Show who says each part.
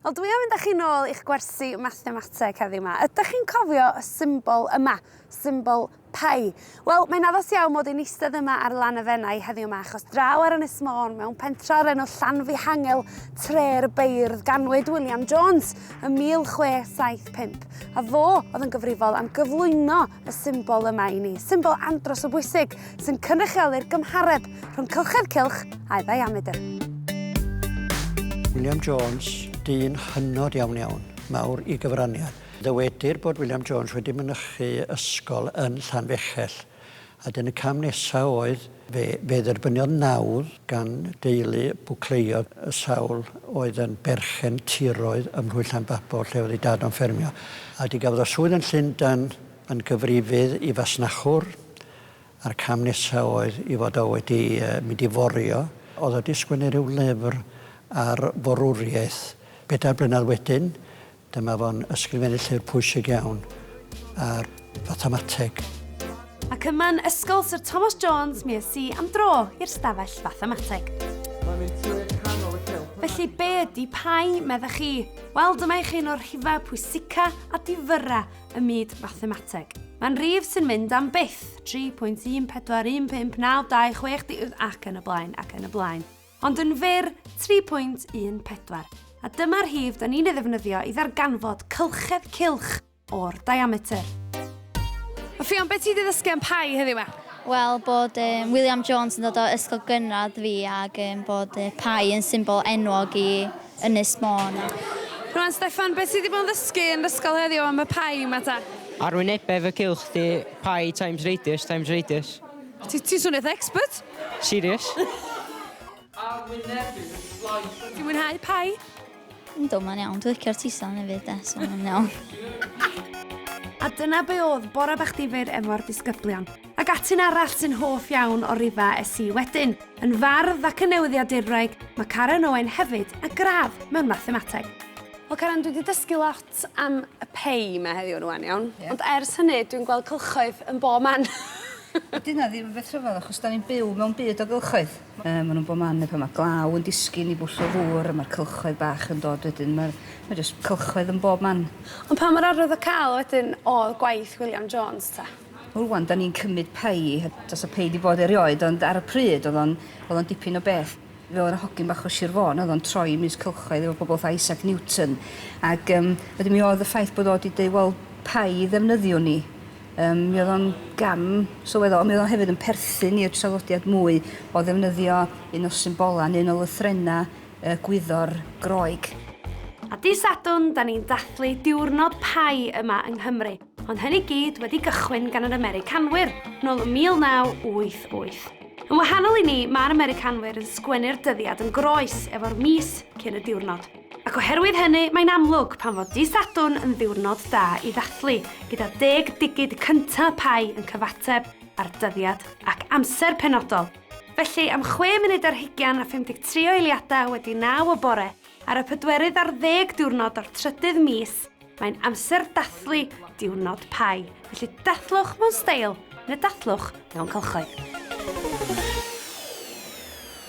Speaker 1: Wel dwi am mynd â chi nôl i'ch gwersi mathemateg heddiw 'ma. Ydach chi'n cofio y symbol yma, symbol pi? Wel, mae'n addas iawn mod i'n eistedd yma ar lan y Fenai heddiw 'ma achos draw ar Ynys Môn mewn pentra o'r enw Llanfihangel, tre'r beirdd, ganwyd William Jones ym 1675 a fo oedd yn gyfrifol am gyflwyno y symbol yma i ni, symbol andros o bwysig sy'n cynrychioly'r gymhareb rhwng cylchedd cylch a'i ddiamedr.
Speaker 2: William Jones, dyn hynod iawn iawn, mawr i gyfraniad. Ddywedir bod William Jones wedi mynychu ysgol yn Llanfechell, a dyn y cam nesaf oedd fe, fe dderbyniodd nawdd gan deulu Bwcleiodd y sawl oedd yn berchen tiroedd ym Mhlwy Llanbabol lle oedd ei dad o'n ffermio, a di gafodd o swydd yn Llundan yn gyfrifydd i fasnachwr A'r cam nesaf oedd i fod o wedi mynd i forio. Oedd o wedi sgwennu rhyw lyfr ar forwriaeth. Bedair blynedd wedyn, dyma fo'n ysgrifennu llyfr pwysig iawn ar fathemateg. Ac
Speaker 1: yma'n Ysgol Syr Thomas Jones mi es i am dro i'r stafell fathemateg. Felly be ydi Pi, meddech chi? Wel, dyma i chi un o'r rhifau pwysica a difyra ym myd mathemateg. Mae'n rif sy'n mynd am byth, 3.14159260 ac yn y blaen ac yn y blaen. Ond yn fyr, 3.14. A dyma'r rhif da ni'n ei ddefnyddio i ddarganfod cylchedd cilch o'r diameter. A Ffion, beth ti wedi ddysgu am pai heddiw ma? Wel, bod
Speaker 3: um, William Jones yn dod o ysgol gynradd fi ac um, bod uh, pai yn symbol enwog i Ynys Môn. Rwan Steffan,
Speaker 1: beth ti 'di bod yn ddysgu yn ysgol heddiw am y Pi yma ta? Arwynebedd y
Speaker 4: cylch di Pi times radius times radius. Ti
Speaker 1: ti'n swnio eitha expert! Serious?
Speaker 4: Arwynebedd y
Speaker 1: slice yma. Ti'n mwynhau Pi? Yndw, mae'n
Speaker 3: iawn. Dwi'n licio'r tison hefyd de, so mae'n iawn.
Speaker 1: A dyna be oedd Bore Bach Difyr efo'r disgyblion. Ac atyn arall sy'n hoff iawn o Riva SC wedyn. Yn fardd ac yn newyddiadurwraig, mae Karen Owen hefyd a gradd mewn mathemateg. Wel Karen, dwi 'di dysgu lot am y pei 'ma heddiw rwan iawn. Ie. Ond ers hynny, dwi'n gweld cylchoedd yn bob man. Wel dyna
Speaker 5: ddim yn beth rhyfedd achos 'dan ni'n byw mewn byd o gylchoedd. Yy ma' nhw'n bob man ne' pan ma' glaw yn disgyn i bwll o ddŵr a ma'r cylchoedd bach yn dod wedyn ma'r ma' jyst cylchoedd yn bob man. Ond pa mor arwydd o câl
Speaker 1: wedyn o'dd gwaith William Jones ta? Rwan 'da ni'n
Speaker 5: cymryd pei, does 'na pei 'di bod erioed ond ar y pryd oedd o'n oedd o'n dipyn o beth. Fe oedd 'na hogyn bach o Sir Fôn oedd o'n troi i Mis Cylchoedd efo pobl fatha Isaac Newton ac yym wedyn mi oedd y ffaith bod o 'di deud wel pei ddefnyddiwn ni yym mi oedd o'n gam sylweddol ond mi oedd o'n hefyd yn perthyn i'r traddodiad mwy o ddefnyddio un o symbolau neu un o lythrena y gwyddor Groeg. A dy
Speaker 1: Sadwrn 'da ni'n dathlu diwrnod pei yma yng Nghymru. Ond hyn i gyd wedi gychwyn gan yr Americanwyr, nôl ym 1988. Yn wahanol i ni, mae'r Americanwyr yn sgwennu'r dyddiad yn groes, efo'r mis cyn y diwrnod. Ac oherwydd hynny, mae'n amlwg pam fod Dydd Sadwrn yn ddiwrnod da i ddathlu, gyda deg digid cyntaf y Pau yn cyfateb â'r dyddiad ac amser penodol. Felly, am chwe munud ar hugain a 53 o eiliadau wedi naw y bore, ar y pedwerydd ar ddeg diwrnod o'r trydydd mis, Mae'n amser dathlu diwrnod Pi, felly dathlwch mewn steil, neu dathlwch mewn cylchoedd.